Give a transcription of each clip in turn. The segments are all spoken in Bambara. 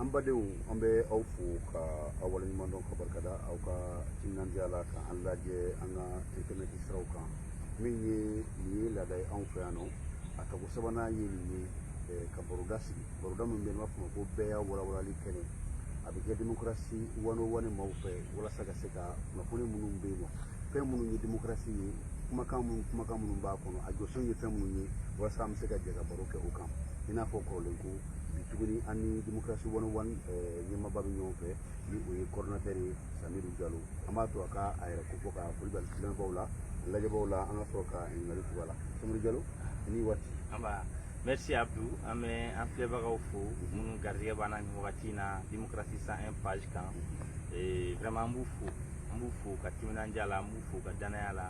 an badenw an bɛ aw fo ka aw waleɲuman dɔn ka barika da aw ka timinandiya la ka an lajɛ an ka intɛnɛti siraw kan min ye nin ye laada ye anw fɛ yan nɔ a tako sabanan ye nin ye eh, ka baroda sigi baroda min bɛ yen b'a fɔ ma ko bɛɛya walawalali kɛnɛ a bɛ kɛ demokarasi one oh one maaw fɛ walasa ka se ka kunnafoni minnu bɛ yen nɔ fɛn minnu ye demokarasi ye kumakan minnu kumakan minnu b'a kɔnɔ a jɔsen ye fɛn minnu ye walasa an bɛ se ka jɛ ka baro kɛ o kan i n'a fɔ kɔrɔlen ko bi tuguni an ni démocratie one oh one eh, ɲɛmaaba bɛ ɲɔgɔn fɛ ni o ye coordinateur ye samiru jalo an b'a to a ka a yɛrɛ kofɔ ka foli bila filɛbaaw la lajɛbaaw la an ka sɔrɔ ka ɲininkali tugu a la samiru jalo i ni waati merci abdu an bɛ an filɛbagaw fo minnu garijɛgɛ b'an na nin wagati in na démocratie 101 page kan eh, vraiment an b'u fo an b'u fo ka timinandiya la an b'u fo ka danaya la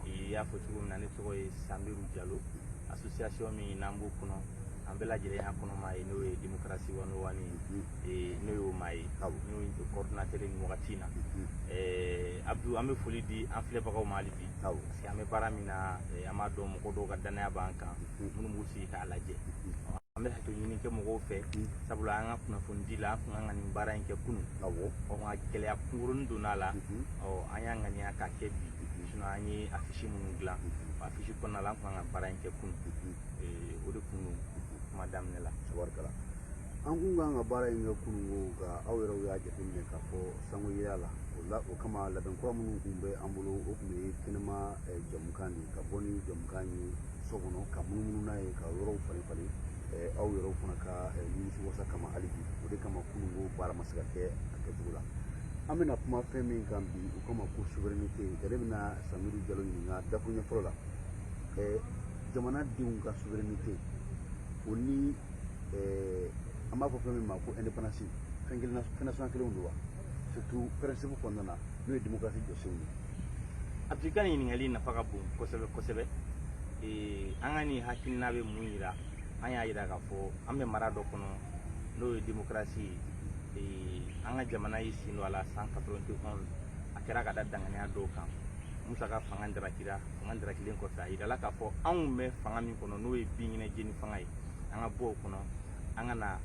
i y'a fɔ cogo min na ne tɔgɔ ye samiru jalo association min n'an b'o kɔnɔ an bɛɛ lajɛlen y'a kɔnɔmaa ye n'o ye démocratie one oh one ye n'o y'o maa ye n'o ye coordinateur nin wagati in na Abdou an bɛ foli di an filɛbagaw ma hali bi parce que an bɛ baara min na an b'a dɔn mɔgɔ dɔw ka dannaya b'an kan minnu b'u sigi k'a lajɛ an bɛ hakɛto ɲini kɛ mɔgɔw fɛ sabula an ka kunnafoni di la an tun ka kan nin baara in kɛ kunun ɔ nka gɛlɛya kunkurunin donna a la ɔ an y'a ŋaniya k'a kɛ bi sinon an ye afisi minnu dilan afisi kɔnɔna la an tun ka kan ka baara in kɛ kunun o de kun kuma daminɛ la tabarikala an kun kan ka baara in kɛ kununko nka aw yɛrɛw y'a jateminɛ k'a fɔ san goyala o kama labɛn kura minnu kun bɛ an bolo o kun ye kɛnɛma jɛmukan de ka bɔ ni jɛmukan ye so kɔnɔ ka munumunu n'a ye ka yɔrɔw falen falen aw yɛrɛw fana ka nimisi wasa kama hali bi o de kama kununko baara ma se ka kɛ a kɛcogo la an bɛna kuma fɛn min kan bi o kama ko souveraineté nka ne bɛna samiru jalo ɲininka dakuruɲɛ fɔlɔ la jamana denw ka souveraineté o ni eh, an b'a fɔ fɛn min ma ko indépendance fɛn kelen fɛn nasɔn kelenw don wa surtout principe kɔnɔna na n'o ye démocratie jɔsenw ye Abdou i ka nin ɲininkali nafa ka bon kosɛbɛ kosɛbɛ eh, an ka nin hakilina bɛ mun yira an y'a yira k'a fɔ an bɛ mara dɔ kɔnɔ n'o ye démocratie ye Eh, an ka jamana y'i sen don a la 1991 a kɛra ka da danganiya dɔw kan Musa ka fanga darakira fanga darakilen kɔfɛ a yirala k'a fɔ anw bɛ fanga min kɔnɔ n'o ye binkɛnɛ jeni fanga ye an ka bɔ o kɔnɔ an ka na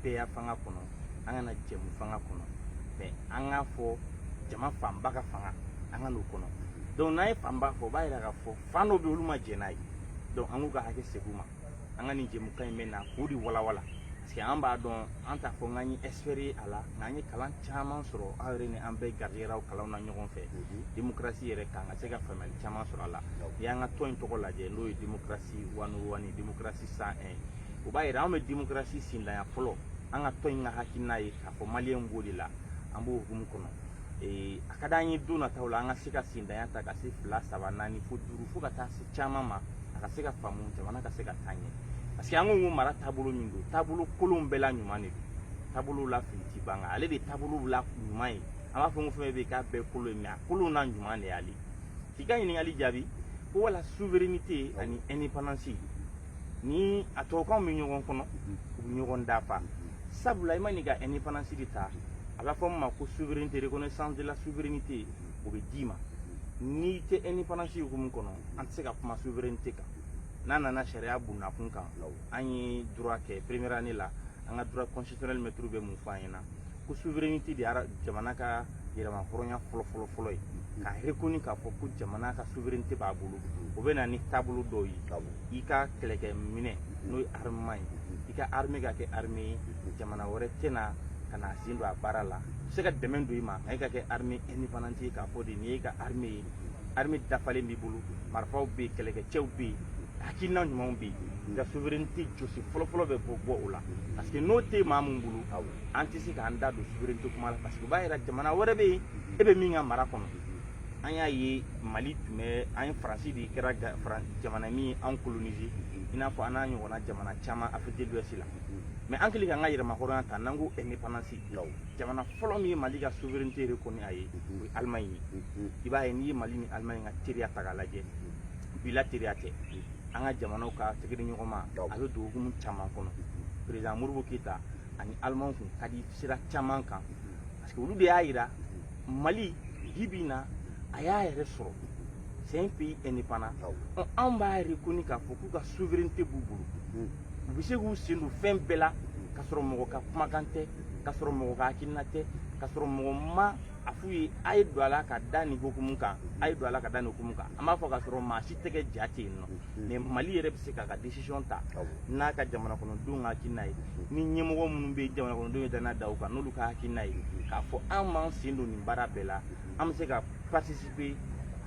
bɛɛya fanga kɔnɔ an ka na jɛmu fanga kɔnɔ mais an k'a fɔ jama fanba ka fanga an ka n'o kɔnɔ donc n'an ye fanba fɔ o b'a yira k'a fɔ fan dɔ bɛ olu ma jɛn n'a ye donc an k'u ka hakɛ segin u ma an ka nin jɛmukan in bɛ na k'o de walawala Parce que an b'a dɔn an t'a fɔ k'an ye expert ye a la nka an ye kalan caman sɔrɔ aw yɛrɛ ni an bɛɛ garijɛgɛra o kalanw na ɲɔgɔn fɛ démocratie yɛrɛ kan ka se ka faamuyali caman sɔrɔ a la n'i y'an ka tɔn in tɔgɔ lajɛ n'o ye démocratie one o one démocratie cent un o b'a yira anw bɛ démocratie sinlaya fɔlɔ an ka tɔn in ka hakilina ye k'a fɔ maliyɛnw b'o de la an b'o hukumu kɔnɔ ee a ka d'an ye don nataw la an ka se ka sindanya ta ka se fila saba naani fo duuru fo ka taa se caman ma a ka se ka faamu jamana ka se ka taa ɲɛ parce que an ko ko mara taabolo min don taabolo kolonw bɛɛ la ɲuman de don taabolow la fili ti ban kan ale de taabolow la ɲuman ye an b'a fɔ ko fɛn bɛ k'a bɛɛ kolon ye mais a kolon na ɲuman de y'ale k'i ka ɲininkali jaabi ko wala souveraineté ani indépendance ni a tubabukanw bɛ ɲɔgɔn kɔnɔ u bɛ ɲɔgɔn dafa sabula i man'i ka indépendance de ta a b'a fɔ min ma ko souveraineté reconnaissance de la souveraineté o bɛ d'i ma n'i tɛ indépendance hukumu kɔnɔ an tɛ se ka kuma souveraineté kan n'a nana sariya bunda kunkan an ye droit kɛ première année la an ka droit constitutionnel maître bɛ mun fɔ an ɲɛna ko souveraineté de ye jamana ka yɛrɛmahɔrɔnya fɔlɔ fɔlɔ fɔlɔ ye k'a reconnu k'a fɔ ko jamana ka souveraineté b'a bolo o bɛ na ni taabolo dɔw ye i ka kɛlɛkɛminɛn n'o ye armement ye i ka armée ka kɛ armée ye jamana wɛrɛ tɛna ka n'a sen don a baara la u se ka dɛmɛ don i ma nka e ka kɛ armée indépendante ye k'a fɔ de nin y'e ka armée ye armée dafalen b'i bolo marifaw bɛ yen kɛlɛkɛcɛw bɛ yen hakilina ɲumanw bɛ yen nka souveraineté jɔsen fɔlɔfɔlɔ bɛ bɔ bɔ o la parce que n'o tɛ maa min bolo an tɛ se k'an da don souveraineté kuma la parce que o b'a yira jamana wɛrɛ bɛ yen e bɛ min ka mara kɔnɔ an y'a ye mali tun bɛ an ye faransi de kɛra jamana min ye an coloniser i n'a fɔ an n'a ɲɔgɔnna jamana caman afrique de l'ouest la mais an kɛlen k'an ka yɛrɛmahɔrɔnya ta n'an ko indépendance jamana fɔlɔ min ye mali ka souveraineté reconnue a ye o ye allemagne ye i b'a ye n'i ye mali ni allemagne ka teriya ta k'a lajɛ bilatéralité an ka jamanaw ka tɛgɛdiɲɔgɔnma a bɛ don hukumu caman kɔnɔ président modibo keyita ani allemagne kun ka di sira caman kan parce que olu de y'a yira mali bi bi na a y'a yɛrɛ sɔrɔ c'est un pays indépendant anw b'a reconnu k'a fɔ k'u ka souveraineté b'u bolo u bɛ se k'u sen don fɛn bɛɛ la k'a sɔrɔ mɔgɔ ka kumakan tɛ k'a sɔrɔ mɔgɔ ka hakilina tɛ k'a sɔrɔ mɔgɔ ma a f'u ye a ye don a la ka da nin hukumu kan a ye don a la ka da nin hukumu kan an b'a fɔ k'a sɔrɔ maa si tɛgɛ ja tɛ yen non mais mali yɛrɛ bɛ se k'a ka décision ta n'a ka jamanakɔnɔdenw ka hakilina ye ni ɲɛmɔgɔ minnu bɛ jamanakɔnɔdenw ye danaya da u kan n'olu ka hakilina ye k'a fɔ an b'an sen don nin baara bɛɛ la an bɛ se ka participer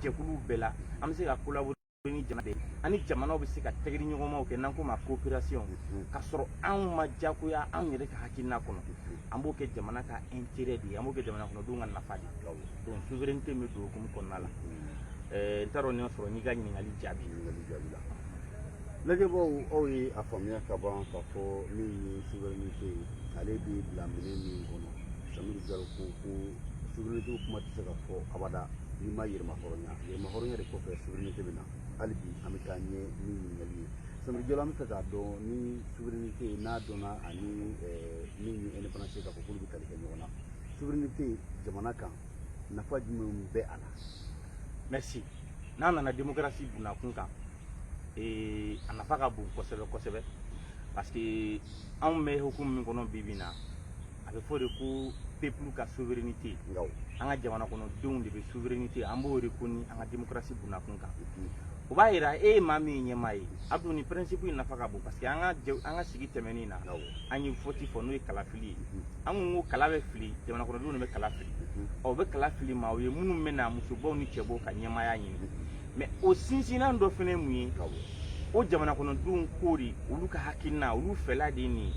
jɛkuluw bɛɛ la an bɛ se ka collaborer ni jamana bɛɛ ani jamanaw bɛ se ka tɛgɛdiɲɔgɔnmaw kɛ n'an k'o ma coopération k'a sɔrɔ anw ma diyagoya anw yɛrɛ ka hakilina kɔnɔ an b'o kɛ jamana ka intérêt de ye an b'o kɛ jamanakɔnɔdenw ka nafa de ye donc souveraineté bɛ don hukumu kɔnɔna la eh, n t'a dɔn n'i y'a sɔrɔ n'i ka ɲininkali jaabi ɲininkali jaabi la lajɛbaaw aw ye a faamuya ka ban k'a fɔ min ye souveraineté ye ale bɛ bila minɛn min kɔnɔ samiri jalo ko ko souveraineté kuma tɛ se ka fɔ abada n'i ma yɛrɛmahɔrɔnya yɛrɛmahɔrɔnya de kɔfɛ souveraineté bɛ na hali bi an bɛ taa ɲɛ ni ɲininkali ye samiri jalo an b'a fɛ k'a dɔn ni souveraineté n'a dɔnna ani eh, min ye indépendance k'a fɔ k'olu bɛ tali kɛ ɲɔgɔn na souveraineté jamana kan nafa jumɛn bɛ a la merci n'a nana démocratie bunakun kan ee, a nafa ka bon kosɛbɛ kosɛbɛ parce que anw bɛ hukumu min kɔnɔ bi bi in na a bɛ fɔ de ko peuple ka souveraineté an ka jamana kɔnɔdenw de bɛ souveraineté an b'o reconnu an ka démocratie bunakun kan o b'a yira e ye maa min ye ɲɛmaa ye a dun nin principe in nafa ka bon parce que an ka jɛ- an ka sigi tɛmɛnen na an ye vote fɔ n'o ye kala fili ye an kun ko kala bɛ fili jamana kɔnɔdenw de bɛ kala fili u bɛ kala fili maaw ye minnu bɛ na musobaw ni cɛbaw ka ɲɛmaaya ɲini mais o sinsinnan dɔ fana ye mun ye o jamana kɔnɔdenw ko de olu ka hakilina olu fɛla de ye nin ye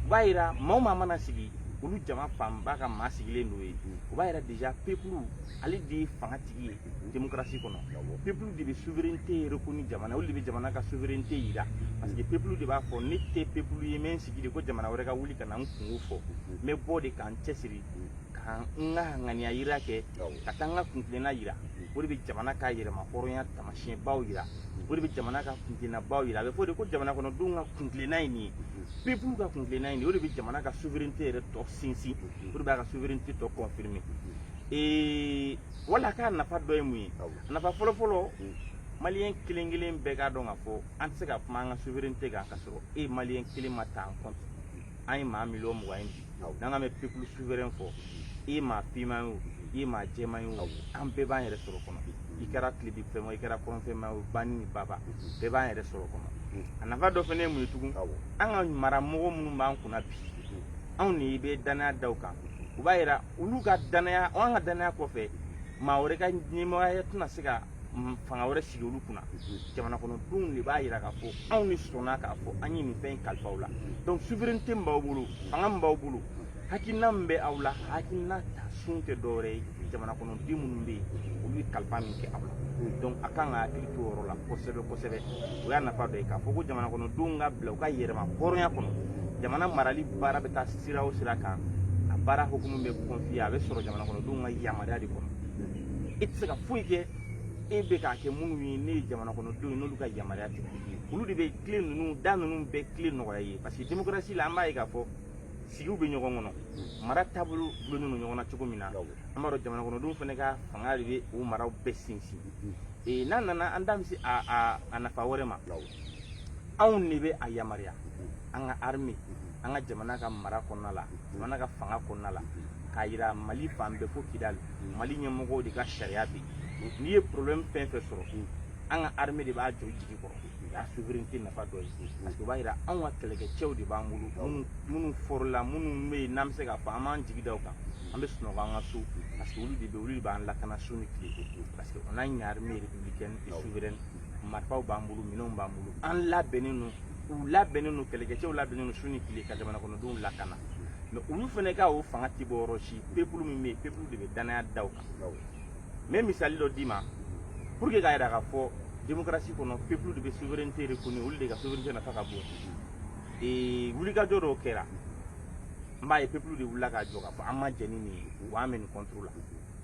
o b'a yira maa o maa mana sigi olu jama fanba ka maa sigilen don ye o b'a yira déjà peuple ale de ye fanga tigi ye démocratie kɔnɔ peuple de bɛ souveraineté reconnu jamana olu de bɛ jamana ka souveraineté yira parce que peuple de b'a fɔ ne tɛ peuple ye n bɛ n sigi de ko jamana wɛrɛ ka wuli ka na n kunko fɔ n bɛ bɔ de ka n cɛsiri ka n ka ŋaniya yira kɛ ka taa n ka kuntilenna yira o de bɛ jamana ka yɛrɛma hɔrɔnya taamasiyɛnbaw yira o de bɛ jamana ka kuntilennabaw yira a bɛ fɔ de ko jamana kɔnɔdenw ka kuntilenna ye nin ye peuple ka kuntilenna ye nin ye o de bɛ jamana ka souveraineté yɛrɛ tɔ sinsin o de b'a ka souveraineté tɔ confirmer ee wala k'a nafa dɔ ye mun ye a nafa fɔlɔfɔlɔ mm. maliyɛn kelen kelen bɛɛ k'a dɔn k'a fɔ an tɛ se ka kuma an ka souveraineté kan ka sɔrɔ e maliyɛn kelen ma ta en compte an ye maa miliyɔn mugan ye bi n'an ka mɛ peuple souverain fɔ i ye maa finman ye o i ye maa jɛman ye o an bɛɛ b'an yɛrɛ sɔrɔ kɔnɔ i kɛra tilebin fɛn o i kɛra kɔrɔn fɛn o banin ni baba bɛɛ b'an yɛrɛ sɔrɔ kɔnɔ a nafa dɔ fana ye mun ye tugun an ka maramɔgɔ minnu b'an kunna bi anw de bɛ danaya da u kan o b'a yira olu ka danaya an ka danaya kɔfɛ maa wɛrɛ ka ɲɛmɔgɔya tɛna se ka fanga wɛrɛ sigi olu kunna jamana kɔnɔdenw de b'a yira k'a fɔ anw de sɔnna k'a fɔ an ye nin fɛn in kalifa aw la donc souveraineté min b'aw bolo fanga min b'aw bolo hakilina min bɛ aw la hakilina ta sun tɛ dɔwɛrɛ ye jamana kɔnɔden minnu bɛ yen olu ye kalifa min kɛ aw la donc a kan ka hakili to o yɔrɔ la kosɛbɛ kosɛbɛ o y'a nafa dɔ ye k'a fɔ ko jamana kɔnɔdenw ka bila u ka yɛrɛma hɔrɔnya kɔnɔ jamana marali baara bɛ taa sira o sira kan a baara hukumu bɛ confier a bɛ sɔrɔ jamana kɔnɔdenw ka yamaruya de kɔnɔ i tɛ se ka foyi kɛ e bɛ k'a kɛ minnu ye n'o ye jamana kɔnɔdenw n'olu ka yamaruya tɛ olu de bɛ tile ninnu da ninnu bɛɛ tile nɔgɔya i ye parce que démocratie la an b'a ye k'a fɔ sigiw bɛ ɲɔgɔn kɔnɔ mara taabolo dulonnen don ɲɔgɔn na cogo min na an b'a dɔn jamana kɔnɔdenw fana ka fanga de bɛ o maraw bɛɛ sinsin n'a nana an da bɛ se a nafa wɛrɛ ma anw de bɛ a yamaruya an ka armée an ka jamana ka mara kɔnɔna la jamana ka fanga kɔnɔna la k'a yira mali fan bɛɛ fo kidali mali ɲɛmɔgɔw de ka sariya bɛ yen n'i ye problème fɛn fɛn sɔrɔ an ka armée de b'a jɔ jigi kɔrɔ o y'a souveraineté nafa dɔ ye parce que o b'a yira anw ka kɛlɛkɛcɛw de b'an bolo minnu fɔrɔla minnu bɛ yen n'an bɛ se k'a fɔ an b'an jigi da u kan an bɛ sunɔgɔ an ka so parce que olu de bɛ olu de b'an lakana su ni tile parce que on a une armée républicaine et souveraine marifaw b'an bolo minɛnw b'an bolo an labɛnnen don u labɛnnen don kɛlɛkɛcɛw labɛnnen don su ni tile ka jamana kɔnɔdenw lakana mais olu fana ka o fanga ti bɔ yɔrɔ si peuple min bɛ yen peuple de bɛ danaya da u kan n bɛ misali dɔ d'i ma pour que k'a yira k'a fɔ démocratie kɔnɔ peuple de bɛ souveraineté reconnue olu de ka souveraineté nafa ka bon ee wulikajɔ dɔw kɛra n b'a ye peuple de wulila ka jɔ k'a fɔ an ma jɛn ni nin ye wa an bɛ nin contre la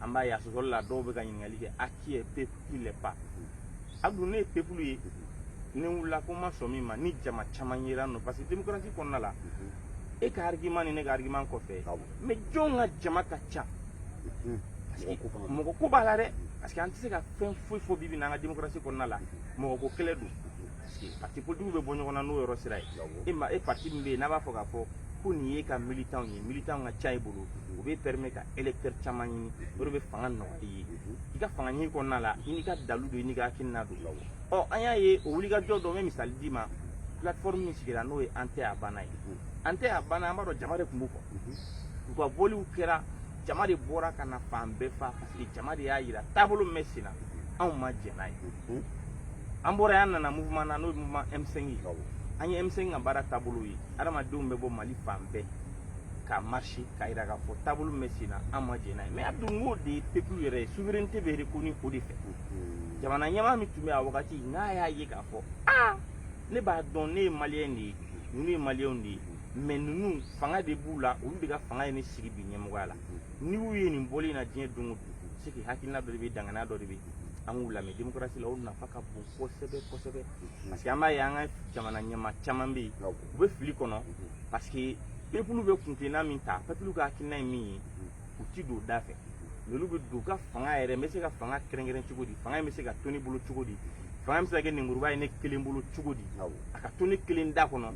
an b'a ye a sɔsɔli la dɔw bɛ ka ɲininkali kɛ a qui est peuple qui l'est pas Abdou ne ye peuple ye ni n wulila ko n ma sɔn min ma ni jama caman yera n nɔ parce que démocratie kɔnɔna la e ka argument ni ne ka argument kɔfɛ mais jɔn ka jama ka ca mɔgɔ ko b'a la dɛ parce que an tɛ se ka fɛn foyi fɔ bi bi n'an ka démocratie kɔnɔna la mɔgɔ ko kɛlɛ don pati politigiw bɛ bɔ ɲɔgɔn na n'o yɔrɔ sira ye e pati min bɛ yen n'a b'a fɔ k'a fɔ ko nin ye ka militanw ye militanw ka ca i bolo o bɛ permet ka électeur caman ɲini o de bɛ fanga nɔgɔya i ye i ka fanga ɲini kɔnɔna la i n'i ka dalu don i n'i ka hakilina don ɔ an y'a ye o wulikajɔ dɔ n bɛ misali d'i ma plateforme min sigira n'o ye an tɛ a banna ye an tɛ a banna an b'a dɔn jama de tun b'u kɔ u ka bɔliw kɛra jama de bɔra ka na fan bɛɛ fa parce que jama de y'a yira taabolo min bɛ sen na anw ma jɛn n'a ye an bɔra yen an nana mouvement na n'o ye mouvement M5 ye an ye M5 ka baara taabolo ye adamadenw bɛ bɔ Mali fan bɛɛ ka marcher k'a yira k'a fɔ taabolo min bɛ sen na an ma jɛn n'a ye mais Abdou n k'o de ye peuple yɛrɛ ye souveraineté bɛ reconnue o de fɛ jamana ɲɛmaa min tun bɛ a wagati n'a y'a ye k'a fɔ aa ne b'a dɔn ne ye maliyɛn de ye ninnu ye maliyɛnw de ye mais ninnu fanga de b'u la olu de ka fanga ye ne sigi bi ɲɛmɔgɔya la n'i y'u ye nin bɔli in na diɲɛ don o don c'est que hakilina dɔ de bɛ yen danaya dɔ de bɛ yen an k'u lamɛn demokarasi la o nafa ka bon kosɛbɛ kosɛbɛ parce que an b'a ye an ka jamana ɲɛmaa caman bɛ yen u bɛ fili kɔnɔ parce que pepulu bɛ kuntilenna min ta pepulu ka hakilina ye min ye u ti don o da fɛ olu bɛ don u ka fanga yɛrɛ n bɛ se ka fanga kɛrɛnkɛrɛn cogo di fanga in bɛ se ka to ne bolo cogo di fanga bɛ se ka kɛ lenburuba ye ne kelen bolo cogo di a ka to ne kelen da kɔnɔ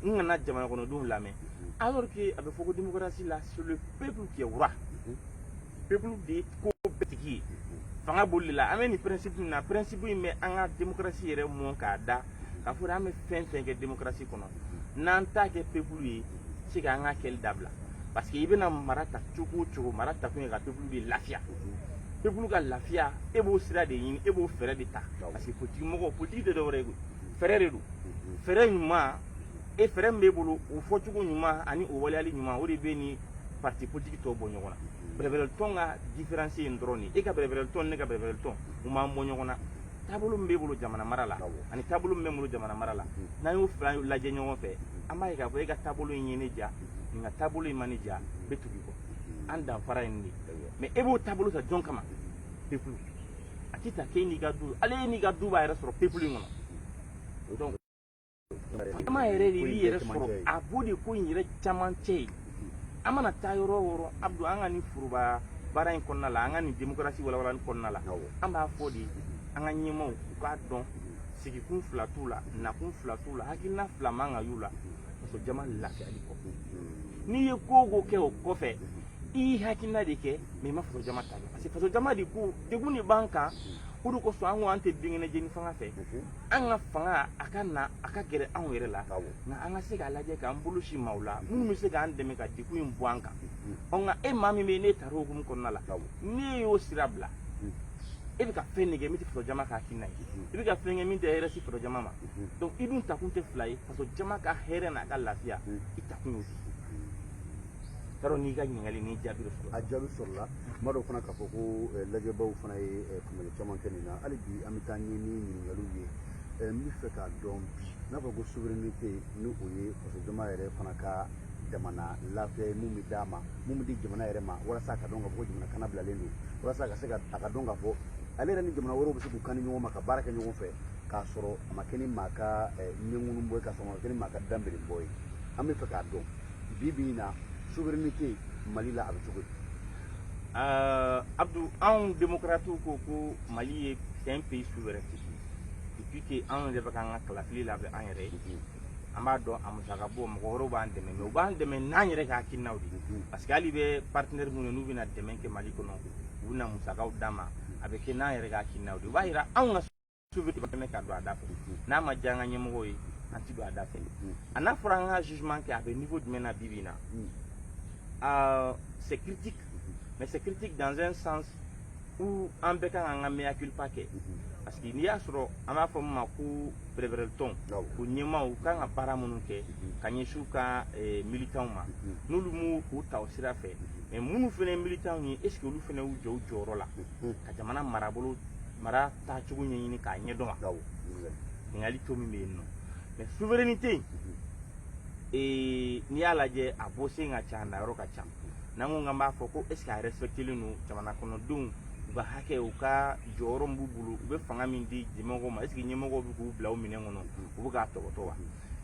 n kana jamanakɔnɔdenw lamɛn alors que a bɛ fɔ ko démocratie la c'est le peuple qui est roi pepulu de ye ko bɛɛ tigi ye fanga bolili la an bɛ nin pɛrɛnsipu min na pɛrɛnsipu in bɛ an ka demokarasi yɛrɛ mɔn k'a da k'a fɔ an bɛ fɛn fɛn kɛ demokarasi kɔnɔ n'an t'a kɛ pepulu ye c'est que an k'a kɛli dabila parce que i bɛna mara ta cogo o cogo mara ta kun ye ka pepulu de lafiya pepulu ka lafiya e b'o sira de ɲini e b'o fɛɛrɛ de ta parce que politiki mɔgɔ politiki tɛ dɔwɛrɛ ye koyi fɛɛrɛ de don fɛɛrɛ ɲuman e fɛɛrɛ min b'e bolo o fɔcogo ɲuman ani o waleyali ɲuman o de bɛ nin parti politique tɔw bɔ ɲɔgɔn na bɛrɛbɛrɛ tɔn ka différence ye dɔrɔn de e ka bɛrɛbɛrɛ tɔn ne ka bɛrɛbɛrɛ tɔn u m'an bɔ ɲɔgɔn na taabolo min b'e bolo jamana mara la ani taabolo min bɛ n bolo jamana mara la n'an y'o fila lajɛ ɲɔgɔn fɛ an b'a ye k'a fɔ e ka taabolo in ye ne diya nin ka taabolo in ma ne diya n bɛ tugu i kɔ an danfara ye nin de mais e b'o taabolo ta jɔn kama pepulu a tɛ ta k'e n'i ka du hali e n'i ka du b'a yɛrɛ sɔrɔ pepulu in kɔnɔ donc jama yɛrɛ de b'i yɛrɛ sɔrɔ a b'o de ko in yɛrɛ camancɛ ye an mana taa yɔrɔ o yɔrɔ Abdu an ka nin foroba baara in kɔnɔna la an ka nin démocratie walawalali kɔnɔna la an b'a fɔ de an ka ɲɛmaaw u k'a dɔn sigikun fila t'u la nakun fila t'u la hakilina fila man ka y'u la faso jama lafiyali kɔ n'i ye ko o ko kɛ o kɔfɛ i y'i hakilina de kɛ mais i ma faso jama ta kɛ parce que faso jama de ko degun de b'an kan o de kosɔn an ko an tɛ binkɛnɛ jeni fanga fɛ an ka fanga a ka na a ka gɛrɛ anw yɛrɛ la nka an ka se k'a lajɛ k'an bolo sin maaw la minnu bɛ se k'an dɛmɛ ka degun in bɔ an kan ɔ nka e maa min bɛ yen n'e tara o hukumu kɔnɔna la n'e y'o sira bila e bɛ ka fɛn de kɛ min tɛ faso jama ka hakilina ye i bɛ ka fɛn kɛ min tɛ hɛrɛ se faso jama ma donc i dun takun tɛ fila ye faso jama ka hɛrɛ n'a ka lafiya i takun y'o de Yarɔ n'i ka ɲininkali ni jaabi sɔrɔla, a jaabi sɔrɔla, n b'a dɔn fana k'a fɔ ko eh, lajɛbaaw fana ye eh, faamuyali caman kɛ nin na hali bi an bɛ taa ɲɛ ni ɲininkaliw ye eh, n bɛ fɛ k'a dɔn bi n'a fɔ ko souveraineté ni o ye fasojama yɛrɛ fana ka jamana lafiya ye mun bɛ d'a ma mun bɛ di jamana yɛrɛ ma walasa a ka dɔn k'a fɔ ko jamana kannabilalen don walasa a ka se ka a ka dɔn k'a fɔ ale yɛrɛ ni jamana wɛrɛw bɛ se k'u kan di ɲɔgɔn ma ka baara kɛ ɲɔgɔn fɛ k'a sɔrɔ a ma kɛ ni maa ka ɲɛŋunun bɔ ye k'a sɔrɔ a ma kɛ ni maa ka danbelenbɔ ye an bɛ fɛ k'a dɔn bi bi in na souveraineté mali la a bɛ cogo di ɛɛ abdu anw démocratew ko ko mali ye c'est un pays souverain depuis que anw yɛrɛ bɛ k'an ka kalafili labɛn an yɛrɛ ye an b'a dɔn a musaka bɔ mɔgɔ wɛrɛw b'an dɛmɛ mais u b'an dɛmɛ n'an yɛrɛ ka hakilinaw de ye parce que hali bɛ partenaire minnu n'u bɛna dɛmɛ kɛ mali kɔnɔ u bɛna musakaw d'an ma a bɛ kɛ n'an yɛrɛ ka hakilinaw de ye o b'a yira anw ka souveraineté dɛmɛ ka don a da fɛ n'a ma diya an ka ɲɛmɔgɔw ye an ti don a da fɛ a n'a fɔra an ka jugement kɛ a bɛ niveau jumɛn na bi bi in na ah, c'est critique mais c'est critique dans un sens où an bɛɛ kan k'an ka mea culpa kɛ parce que n'i y'a sɔrɔ an b'a fɔ min ma ko bɛrɛbɛrɛlitɔn o ɲɛmaaw kan ka baara minnu kɛ ka ɲɛsin u ka eh, militanw ma n'olu m'u u ta o sira fɛ mais minnu fana ye militanw ye est ce que olu fana y'u jɔ u jɔyɔrɔ la ka jamana marabolo mara taacogo ɲɛɲini k'a ɲɛdɔn wa ɲininkali to min bɛ yen nɔ mais souveraineté in ee n'i y'a lajɛ a bɔ sen ka ca a nayɔrɔ ka ca n'an ko k'an b'a fɔ ko est ce que a respectelen don jamana kɔnɔdenw u ka hakɛ u ka jɔyɔrɔ min b'u bolo u bɛ fanga min di ɲɛmɔgɔw ma est ce que ɲɛmɔgɔw bɛ k'u bila u minɛn kɔnɔ u bɛ k'a tɔgɔtɔ wa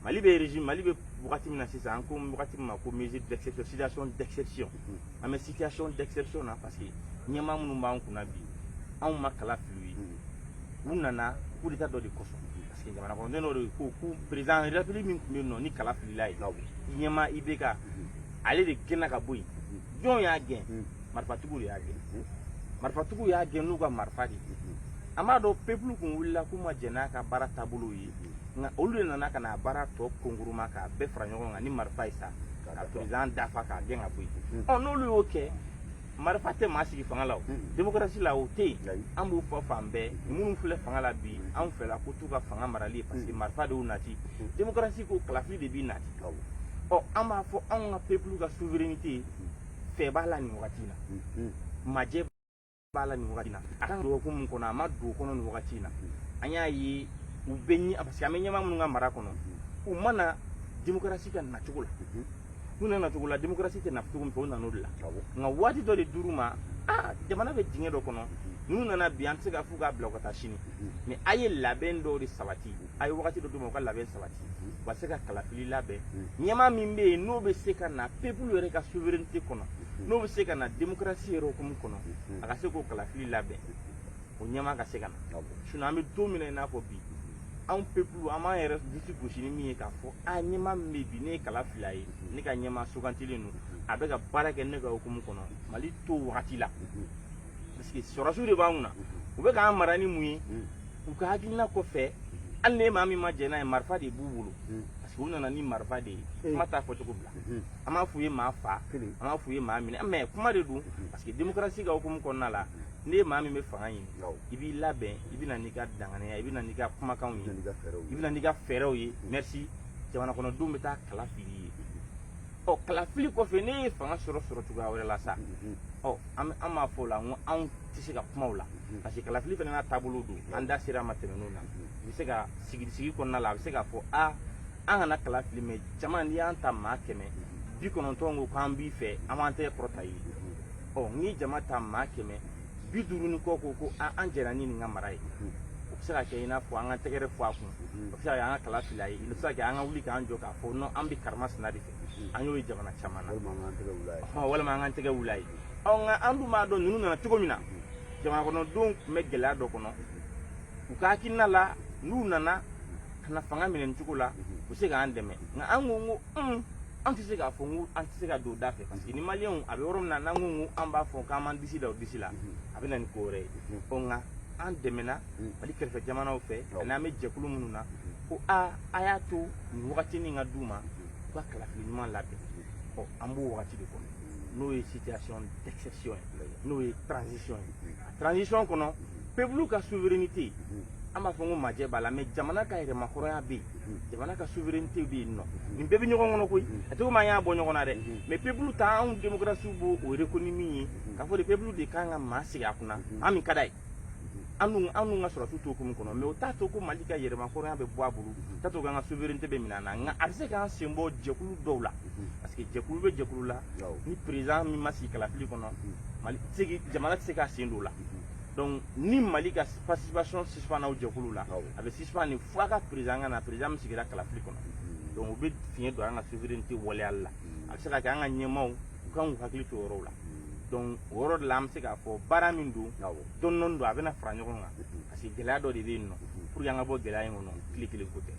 mali bɛ régime mali bɛ wagati min na sisan an ko wagati min ma ko mesure d'exception situation d'exception an bɛ situation d'exception na parce que ɲɛmaa minnu b'an kunna bi anw ma kala fili u ye u nana coup d'état dɔ de kosɔn parce que jamana kɔnɔden dɔ de ko ko président de la République min tun bɛ yen nɔ ni kala filil'a ye ɲɛmaa IBK ale de gɛnna ka bɔ yen jɔn y'a gɛn marifatigiw de y'a gɛn marifatigiw y'a gɛn n'u ka marifa de ye an b'a dɔn pepulu kun wulila k'u ma jɛn n'a ka baara taabolow ye nka olu de nana ka n'a baara tɔ konkuruma k'a bɛɛ fara ɲɔgɔn kan ni marifa ye sa ka président dafa k'a gɛn ka bɔ yen ɔ n'olu y'o kɛ marifa tɛ maa sigi fanga la o demokarasi la o tɛ yen an b'o fɔ fan bɛɛ minnu filɛ fanga la bi anw fɛla ko t'u ka fanga marali ye parce que marifa de y'u nati demokarasi ko kalafili de b'i nati ɔ an b'a fɔ anw ka pepulu ka souveraineté fiyɛ b'a la nin wagati in na majɛ b'a la nin wagati in na a kan ka don hukumu min kɔnɔ a ma don o kɔnɔ nin wagati in na an y'a ye u bɛ ɲɛ parce que an bɛ ɲɛmaa minnu ka mara kɔnɔ u ma na demokarasi ka nacogo la n'u nana nacogo la demokarasi tɛ na cogo min fɛ u nana o de la nka waati dɔ de dir'u ma aa jamana bɛ dingɛ dɔ kɔnɔ n'u nana bi an tɛ se k'a f'u k'a bila u ka taa sini mais a ye labɛn dɔw de sabati a ye wagati dɔ d'u ma u ka labɛn sabati u ka se ka kalafili labɛn ɲɛmaa min bɛ yen n'o bɛ se ka na pepulu yɛrɛ ka souveraineté kɔnɔ n'o bɛ se ka na démocratie yɛrɛ hukumu kɔnɔ a ka se k'o kalafili labɛn o ɲɛmaa ka se ka na sinon an bɛ don min na i n'a fɔ bi anw pepulu an b'an yɛrɛ disi gosi ni min ye k'a fɔ a ɲɛmaa min bɛ yen bi ne ye kala fili a ye ne ka ɲɛmaa sugantilen don a bɛ ka baara kɛ ne ka hukumu kɔnɔ mali t'o wagati la parce que sɔrɔdasiw de b'an kunna u bɛ k'an mara ni mun ye u ka hakilina kɔfɛ hali ne maa min ma jɛn n'a ye marifa de b'u bolo hmm. parce que u nana ni marifa de ye hmm. kuma t'a fɔcogo bila hmm. an m'a f'u ye maa fa an m'a f'u ye maa minɛ mais kuma de don parce que démocratie ka hukumu kɔnɔna la n'e maa min bɛ fanga ɲini i b'i labɛn i bɛ na n'i ka danganiya i bɛ na n'i ka kumakanw ye i bɛ na n'i ka fɛɛrɛw ye merci jamanakɔnɔdenw bɛ taa kala fili i ye ɔ kalafili kɔfɛ n'e ye fanga sɔrɔ sɔrɔ cogoya wɛrɛ la sa ɔ an b'a fɔ o la n ko anw tɛ se ka kuma o la parce que kalafili fana n'a taabolo don an da ser'a ma tɛmɛn'o na u bɛ se ka sigi sigi kɔnɔna la a bɛ se k'a fɔ a an kana kalafili mais jama n'i y'an ta maa kɛmɛ bi kɔnɔntɔn ko k'an b'i fɛ an b'an tɛgɛ kɔrɔta i ye ɔ n'i ye jama ta maa kɛmɛ bi duuru ni kɔ ko ko an jɛnna ni nin ka mara ye o bɛ se ka kɛ i n'a fɔ an ka tɛgɛrɛ fɔ a kun o bɛ se ka kɛ an ka kala fili a ye o bɛ se ka kɛ an ka wuli k'an jɔ k'a fɔ an bɛ karama sina de fɛ an y'o ye jamana caman na walima an k'an tɛgɛ wul'a ye ɔ nka an dun b'a dɔn ninnu nana cogo min na jamana kɔnɔdenw tun bɛ gɛlɛya dɔ kɔnɔ u ka hakilina la n'u nana ka na fanga minɛ nin cogo la u bɛ se k'an dɛmɛ nka an ko ko un an tɛ se k'a fɔ ko an tɛ se ka don da fɛ parce que ni maliyɛnw a bɛ yɔrɔ min na n'an ko ko an b'a fɔ k'an b'an disi da o disi la a bɛ na ni ko wɛrɛ ye ɔ nka an dɛmɛna mali kɛrɛfɛ jamanaw fɛ ani an bɛ jɛkulu minnu na ko aa a y'a to nin wagati nin ka d'u ma u ka kalafili ɲuman labɛn ɔ an b'o wagati de kɔnɔ n'o ye situation d'exception ye n'o ye transition ye a transition kɔnɔ peuple ka souveraineté an b'a fɔ ko majɛ b'a la mais jamana ka yɛrɛmahɔrɔnya bɛ yen jamana ka souveraineté bɛ yen nɔ nin bɛɛ bɛ ɲɔgɔn kɔnɔ koyi a tɛ komi an y'a bɔ ɲɔgɔn na dɛ mais peuple ta anw démocratie b'o o reconnu min ye k'a fɔ de peuple de kan ka maa sigi a kunna ani min ka d'a ye anw anw ka sɔrɔdasiw t'o hukumu kɔnɔ mais o t'a to ko mali ka yɛrɛmahɔrɔnya bɛ bɔ a bolo o t'a to k'an ka souveraineté bɛ minɛ an na nka a bɛ se k'an sen bɔ jɛkulu dɔw la parce que jɛkulu bɛ jɛkulu la ni président min ma sigi kalafili kɔnɔ jamana tɛ se k'a sen don o la donc ni mali ka participation suspend o jɛkulu la a bɛ suspend nin fo a ka président ka na président min sigira kalafili kɔnɔ donc o bɛ fiɲɛ don an ka souveraineté waleyali la a bɛ se ka kɛ an ka ɲɛmaaw u kan k'u hakili to o yɔrɔw la donc o yɔrɔ de la an bɛ se k'a fɔ baara min don dɔɔni dɔɔni don a bɛna fara ɲɔgɔn kan parce que gɛlɛya dɔ de bɛ yen nɔ pour que an ka bɔ gɛlɛya in kɔnɔ tile kelen ko tɛ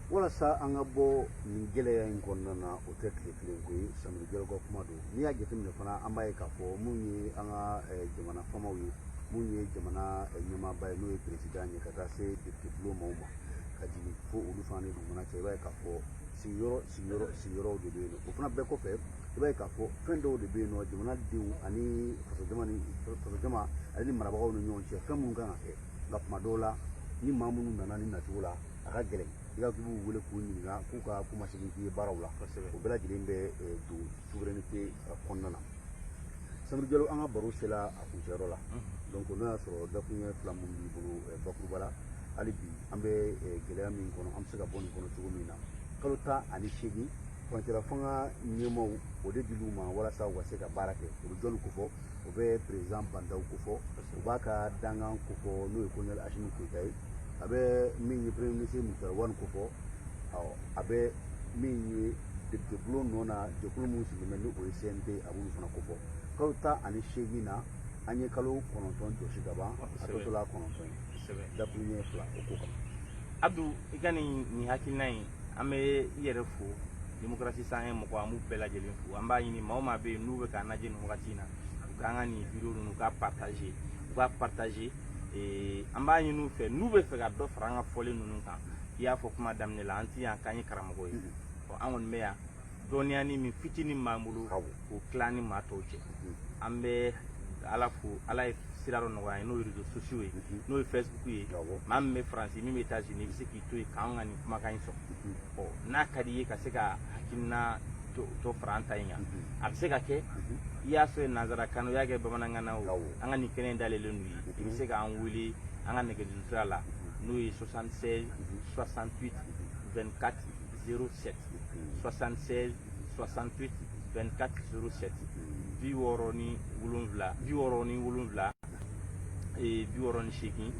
walasa an ka bɔ nin gɛlɛya in kɔnɔna na o tɛ tile kelen ko ye samori jalo ka kuma don n'i y'a jateminɛ fana an b'a ye k'a fɔ mun ye an ka eh, jamana faamaw ye mun ye jamana eh, ɲɛmaaba ye n'o ye président ye ka taa se député bulon maaw ma ka jigin fo olu fana ni dugumana cɛ i b'a ye k'a fɔ sigiyɔrɔ sigiyɔrɔ sigiyɔrɔw de bɛ yen o fana bɛɛ kɔfɛ i b'a ye k'a fɔ fɛn dɔw de bɛ yen nɔ jamana denw ani fasojama ni fasojama ale ni marabagaw ni ɲɔgɔn cɛ fɛn minnu kan ka kɛ nka kuma dɔw la ni maa minnu nana ni nacogo la a ka gɛlɛn i ka k'i b'u wele k'u ɲininka k'u ka kuma segin k'i ye baaraw la o bɛɛ lajɛlen bɛ eh, don souveraineté eh, kɔnɔna na sameru jalo an ka baro sela a kuncɛyɔrɔ la donc n'o y'a sɔrɔ dakuruɲɛ fila minnu b'i bolo eh, bakuruba la hali bi an bɛ gɛlɛya min kɔnɔ an bɛ se ka bɔ nin kɔnɔ cogo min na kalo tan ani seegin furancɛla fanga ɲɛmaaw o de dil'u ma walasa u ka se ka baara kɛ o bɛ jɔnni ko fɔ o bɛ président ba ndaw ko fɔ o b'a ka dankan ko fɔ n'o ye kolonɛli asimi goyita ye a bɛ min ye premier ministre mutari wani ko fɔ a bɛ min ye depitebulon nɔ na jɛkulu minnu sigilen bɛ ni o ye cnt a b'olu fana ko fɔ kalo tan ani seegin na an ye kalo kɔnɔntɔn jɔsi ka ban a tɔ tora kɔnɔntɔn ye dakuruɲɛ fila o ko kan Abdou i ka nin nin hakilina in an bɛ i yɛrɛ fo démocratie cent un mɔgɔ an b'u bɛɛ lajɛlen fo an b'a ɲini maa o maa bɛ yen n'u bɛ k'an lajɛ nin wagati in na u k'an ka nin video ninnu u k'a partager u k'a partager eh, an b'a ɲini u fɛ n'u bɛ fɛ ka dɔ fara an ka fɔlen ninnu kan i y'a fɔ kuma daminɛ la an tɛ yan k'an ye karamɔgɔ ye an kɔni bɛ yan dɔnniyanin min fitinin b'an bolo k'o tila ni maa tɔw cɛ an bɛ ala fo ala ye sira dɔ nɔgɔya n'o ye réseaux sociaux ye n'o ye facebook ye maa min bɛ faransi min bɛ états unis i bɛ se k'i to yen k'an ka nin kumakan in sɔrɔ n'a ka di i ye ka se ka hakilina dɔ fara an ta in kan a bɛ se ka kɛ i y'a fɔ nanzarakan na o i y'a kɛ bamanankan na o an ka nin kɛnɛ in dayɛlɛlen don u ye i bɛ se k'an wele an ka nɛgɛjuru sira la n'o ye 76 68 24 07 76 68 24 07 bi wɔɔrɔ ni wolonwula bi wɔɔrɔ ni wolonwula ee bi wɔɔrɔ ni seegin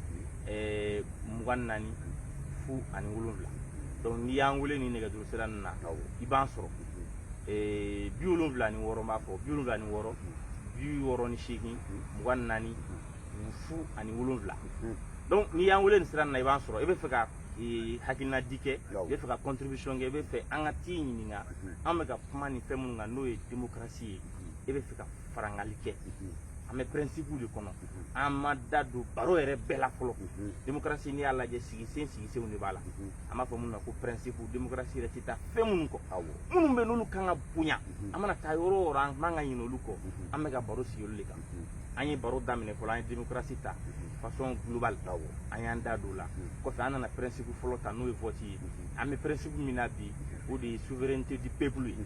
ɛɛ mugan naani fu ani wolonwula donc n'i y'an wele nin nɛgɛjuru sira nin na i b'an sɔrɔ ee bi wolonwula ni wɔɔrɔ n b'a fɔ bi wolonwula ni wɔɔrɔ bi wɔɔrɔ ni seegin mugan naani fu ani wolonwula donc n'i y'an wele nin sira nin na i b'an sɔrɔ i bɛ fɛ ka ee, hakilina di kɛ i bɛ fɛ ka contribution kɛ i bɛ fɛ an ka t'i ɲininka an bɛ ka kuma nin fɛn minnu kan n'o ye démocratie ye i bɛ fɛ ka farangali kɛ an bɛ principe de kɔnɔ an ma da don baro yɛrɛ bɛɛ la fɔlɔ démocratie n'i y'a lajɛ sigisen sigisenw de b'a la an b'a fɔ minnu ma ko principe démocratie yɛrɛ tɛ taa fɛn minnu kɔ minnu bɛ n'olu kan ka bonya an mana taa yɔrɔ o yɔrɔ an man ka ɲinɛ olu kɔ an bɛ ka baro sigi olu de kan an ye baro daminɛ fɔlɔ an ye démocratie ta façon globale an y'an da don o la kɔfɛ an nana principe fɔlɔ ta n'o ye vote ye an bɛ principe min na bi o de ye souveraineté du peuple ye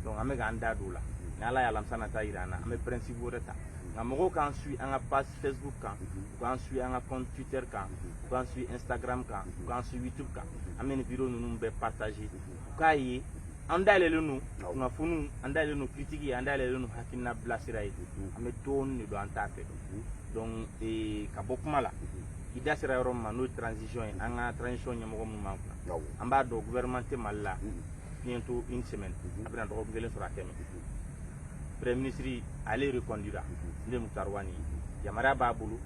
donc an bɛ k'an da don o la ni ala ye alamisa nata jira an na an bɛ principe wɛrɛ ta nka mɔgɔw k'an suit an ka page facebook kan u k'an suit an ka compte twitter kan u k'an suit instagram kan u k'an suit youtube kan an bɛ nin video ninnu bɛɛ partager u k'a ye an dayɛlɛlen don kunnafoniw an dayɛlɛlen don kiritiki an dayɛlɛlen don hakilina bilasira ye an bɛ dɔɔni de dɔn an t'a fɛ donc eh, ka bɔ kuma la i da sera yɔrɔ min ma n'o ye transition ye an ka transition ɲɛmɔgɔ minnu b'an kunna an b'a dɔn gouvernement tɛ mali la bientôt une semaine a bɛna dɔgɔkun kelen sɔrɔ a quand même premier ministre ale reconduira ne Muktar Wani yamaruya b'a bolo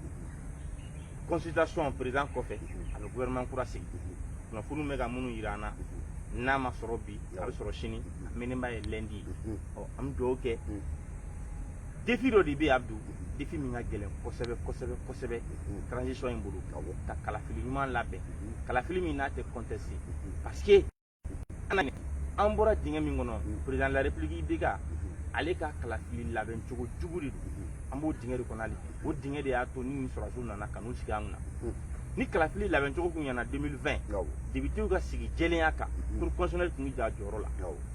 consultation président kɔfɛ a bɛ gouvernement kura sigi kunnafoniw bɛ ka minnu yira an na n'a ma sɔrɔ bi a bɛ sɔrɔ sini a mɛnenba ye lundi ye ɔ an bɛ dugawu kɛ défi dɔ de bɛ yen Abdou défi min ka gɛlɛn kosɛbɛ kosɛbɛ kosɛbɛ transition in bolo ka kalafili ɲuman labɛn kalafili min n'a tɛ conteste parce que an bɔra dingɛ min kɔnɔ président de la république IBK ale ka kalafili labɛn cogo jugu de don an b'o dingɛ de kɔnɔ hali o dingɛ de y'a to ni nin sɔrɔdasiw nana ka n'u sigi an kunna ni kalafili labɛn cogo tun ɲɛna 2020 depitew ka sigi jɛlenya kan cour constitutionnelle tun bɛ jɔ a jɔyɔrɔ la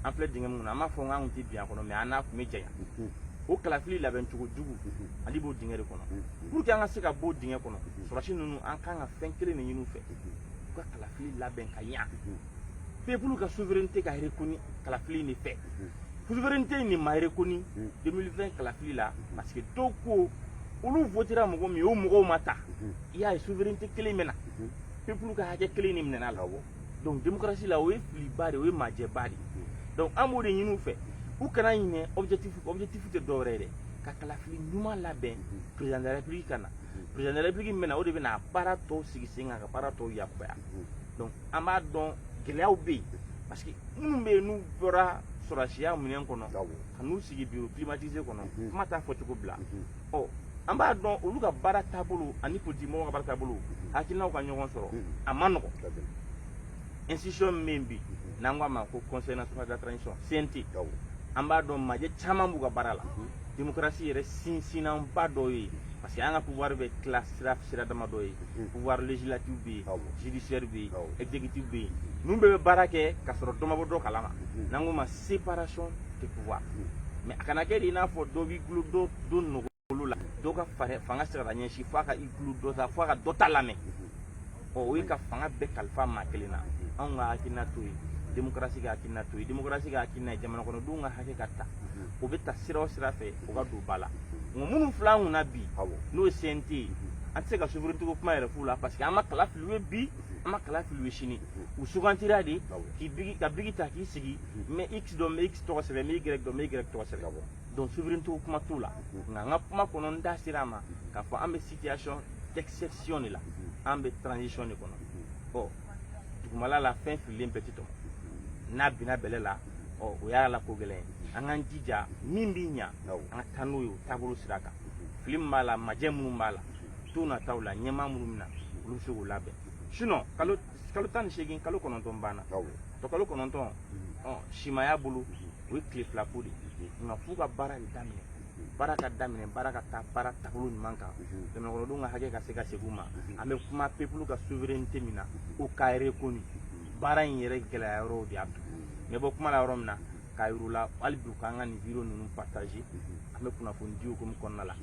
an filɛ dingɛ min kɔnɔ an m'a fɔ k'an tun tɛ bin a kɔnɔ mais an n'a tun bɛ janya o kalafili labɛn cogo jugu ale b'o dingɛ de kɔnɔ pour que an ka se ka bɔ o dingɛ kɔnɔ sɔrɔdasi ninnu an kan ka fɛn kelen de ɲini u fɛ kalafili labɛn ka ɲa pepulu ka souveraineté ka rekoni kalafili de fɛ souveraineté in de ma rekoni 2020 kalafili la parce que dɔw ko olu votera mɔgɔ min o mɔgɔw ma ta i y'a ye souveraineté kelen minɛna pepulu ka hakɛ kelen de minɛna la donc démocratie la o ye filiba de o ye majɛba de donc an b'o de ɲini u fɛ u kana ɲinɛ objectif objectif tɛ dɔwɛrɛ ye dɛ ka kalafili ɲuman labɛn président de la république ka na président de la république min bɛ na o de bɛ na baara tɔw sigi sen kan ka baara tɔw yakubaya donc an b'a dɔn gɛlɛyaw bɛ yen parce que minnu bɛ yen n'u bɔra sɔrɔdasiya minɛn kɔnɔ ka n'u sigi bureau climatisé kɔnɔ kuma t'a fɔcogo bila ɔ an b'a dɔn olu ka baara taabolo ani politikimɔgɔw ka baara taabolo hakilinaw ka ɲɔgɔn sɔrɔ a ma nɔgɔn institution min bi n'an ko a ma ko conseil national de la transition CNT an b'a dɔn majɛ caman b'u ka baara la démocratie yɛrɛ sinsinnanba dɔ ye parce que an ka pouvoir bɛ tila sira sira dama dɔ ye pouvoir législatif bɛ yen judiciaire bɛ yen exécutif bɛ yen ninnu bɛɛ bɛ baara kɛ ka sɔrɔ dɔ ma bɔ dɔ kalama n'an k'o ma séparation de pouvoir mais a kana kɛ de i n'a fɔ dɔ b'i gulo dɔ dɔ nɔgɔ olu la dɔ ka fanga sera ka ɲɛsin f'a ka i tulo dɔ ta f'a ka dɔ ta lamɛn ɔ o ye ka fanga bɛɛ kalifa maa kelen na anw ka hakilina t'o ye demokarasi ka hakilina t'o ye demokarasi ka hakilina ye jamana kɔnɔdenw ka hakɛ ka ta o bɛ ta sira o sira fɛ o ka don ba la nka minnu filɛ an kunna bi n'o ye cnt ye an tɛ se ka souveraineté ko kuma yɛrɛ f'u la parce que an ma kala fili u ye bi an ma kala fili u ye sini u sugantira de ka biki ta k'i sigi n bɛ x dɔn n bɛ x tɔgɔ sɛbɛn n bɛ y dɔn n bɛ y tɔgɔ sɛbɛn donc souveraineté kuma t'o la nka an ka kuma kɔnɔ n da sera a ma k'a fɔ an bɛ situation d'exception de la an bɛ transition de kɔnɔ ɔ dugumala la fɛn fililen bɛɛ tɛ tɔmɔ n'a binna bɛlɛ la ɔ o y'a la ko gɛlɛn an k'an jija min bɛ ɲa an ka taa n'o ye o taabolo sira kan fili min b'a la majɛ minnu b'a la don nataw la ɲɛmaa minnu bɛ na olu bɛ se k'o labɛn sinon kalo kalo tan ni seegin kalo kɔnɔntɔn banna tɔ kalo kɔnɔntɔn mhm. simaya bolo mhm. o ye tile fila ko de mhm. nka f'u ka baara de daminɛ baara ka daminɛ baara ka taa baara taabolo ɲuman kan jamanakɔnɔdenw ka hakɛ ka se ka segin u ma an bɛ kuma peuple ka souveraineté min na o ka reconnu baara in yɛrɛ gɛlɛya yɔrɔw de y'a to n bɛ bɔ kuma la yɔrɔ min na k'a yir'u la hali bi u k'an ka nin video ninnu partager an bɛ kunnafoni di hukumu kɔnɔna la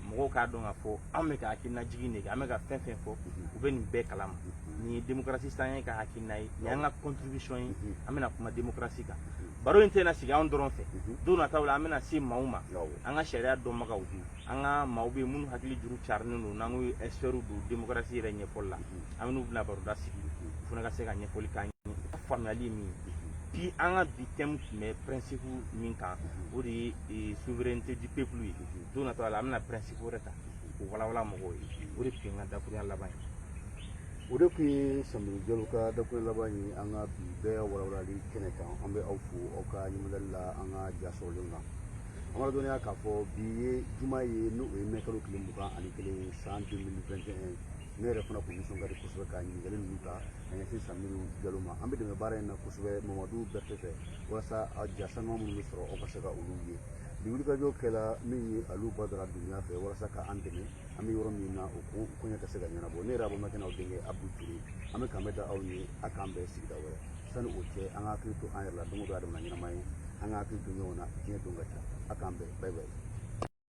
mɔgɔw k'a dɔn k'a fɔ an bɛ ka hakilina jigin de kɛ an bɛ ka fɛn fɛn fɔ u bɛ nin bɛɛ kalama nin ye démocratie cent un ka hakilina ye nin y'an ka contribution ye an bɛna kuma démocratie kan baro in tɛna sigi anw dɔrɔn fɛ don nataw la an bɛna se maaw ma an ka sariya dɔnbagaw an ka maaw bɛ minnu hakili juru carinen don n'an ko experts don démocratie yɛrɛ ɲɛfɔli la an bɛ n'u bɛna baroda sigi u fana ka se ka ɲɛfɔli k'an ye faamuyali ye min ye bi an ka bi thème tun bɛ principe min kan o de ye eh, souveraineté du peuple ye don nataw la an bɛna principe wɛrɛ ta k'o walawala mɔgɔw ye o de tun ye n ka dakuruya laban ye o de tun ye sameru jalo ka dakuruya laban ye an ka bi bɛɛ walawalali kɛnɛ kan an bɛ aw fo aw ka ɲiningali la an ka jasɔrɔlen kan an b'aw ladɔnniya k'a fɔ bi ye juma ye n'o ye mɛ kalo tile mugan ani kelen san 2021 ne yɛrɛ fana kun nisɔn ka di kosɛbɛ ka ɲininkali ninnu ta ka ɲɛsin sameru jalo ma an bɛ dɛmɛ baara in na kosɛbɛ mamadu bɛrɛte fɛ walasa a ja saniman minnu bɛ sɔrɔ aw ka se ka olu ye bi wulikajɔ kɛla min ye alu badara dunbiya fɛ walasa ka an dɛmɛ an bɛ yɔrɔ min na o ko koɲɛ ka se ka ɲɛnabɔ ne yɛrɛ aw balimakɛ n'aw denkɛ abu ture an bɛ k'an bɛn da aw ye a k'an bɛn sigida wɛrɛ sani o cɛ an ka hakili to an yɛrɛ la don o don adama ɲɛnama ye an ka hakili to ɲɔgɔn na diɲɛ don ka ca a k'an bɛn bye bye